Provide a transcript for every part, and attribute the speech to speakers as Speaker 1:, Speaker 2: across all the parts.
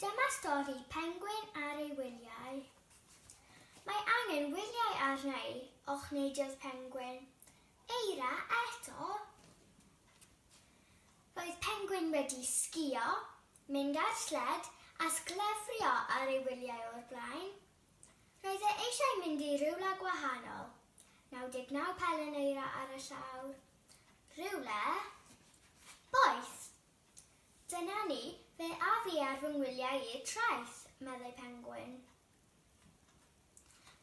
Speaker 1: Dyma stori pengwin ar ei wyliau. Mae angen wyliau arna i, ochneidiodd Pengwin. Eira eto? Roedd Pengwin wedi sgïo, mynd ar sled a sglefrio ar ei wyliau o'r blaen. Roedd e eisiau mynd i rywle gwahanol. 99 pelen eira ar y llawr. Rywle boeth. Dyna ni, fe a fi ar fy ngwyliau i'r traeth, meddai Pengwin.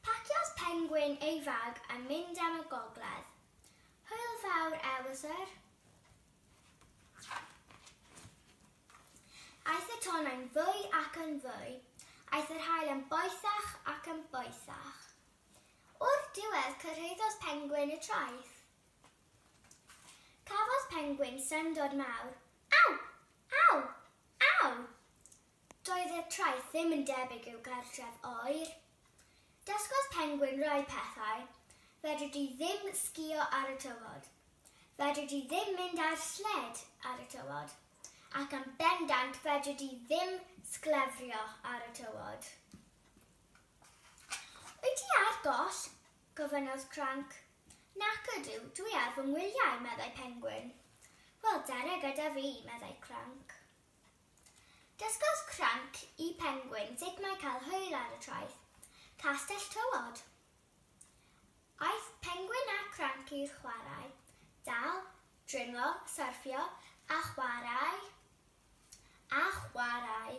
Speaker 1: Paciodd Pengwin ei fag a mynd am y gogledd. Hwyl fawr, Ewythr. Aeth y tonnau'n fwy ac yn fwy. Aeth yr haul yn boethach ac yn boethach. O'r diwedd cyrhaeddodd Pengwin y traeth. Cafodd pengwin syndod mawr. Aw! Aw! Aw! Doedd y traeth ddim yn debyg i'w cartref oer. Dysgodd pengwin rai pethau. Fedri di ddim sgïo ar y tywod. Fedri di ddim mynd ar sled ar y tywod. Ac yn bendant fedri di ddim sglefrio ar y tywod. Wyt ti ar goll? gofynnodd Cranc. Nac ydw, dwi ar fy ngwyliau, meddai Pengwin. Wel, dere gyda fi, meddai Cranc. Dysgodd Cranc i Pengwin sut mae cael hwyl ar y traeth, Castell Tywod. Aeth Pengwin a Cranc i'r chwarae, dal, dringo, syrffio, a chwarae. A chwarae.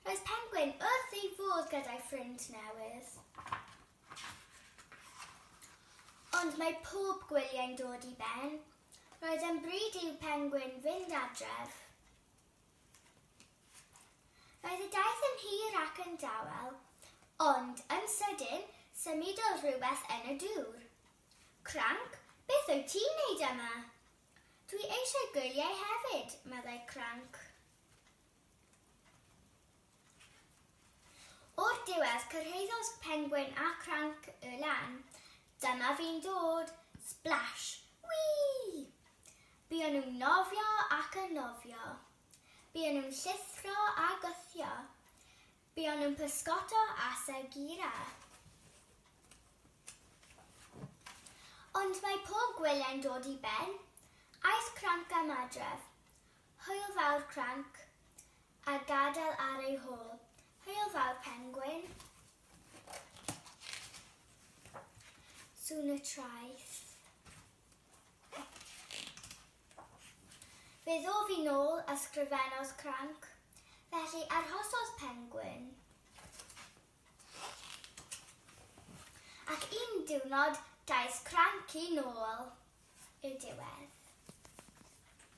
Speaker 1: Roedd Pengwin wrth ei fodd gyda'i ffrind newydd. Ond mae pob gwyliau'n dod i ben. Roedd e'n bryd i'w Pengwin fynd adref. Roedd y daith yn hir ac yn dawel, ond yn sydyn, symudodd rhywbeth yn y dŵr. Cranc, beth wyt ti'n neud yma? Dwi eisiau gwyliau hefyd, meddai Cranc. O'r diwedd, cyrhaeddodd Pengwin a Cranc y lan. Dyma fi'n dod! Splash! Wii! Buon nhw'n nofio ac yn nofio. Buon nhw'n llithro a gwthio. Buon nhw'n pysgota a segira. Ond mae pob gwyliau'n dod i ben. Aeth cranc am adref. Hwyl fawr cranc. A gadael ar ei hôl. Hwyl fawr pengwin. Sŵn y traeth. Fe ddof i nôl a sgrifennodd cranc, felly arhosodd Pengwin. Ac un diwrnod daeth Cranc i nôl i'r diwedd.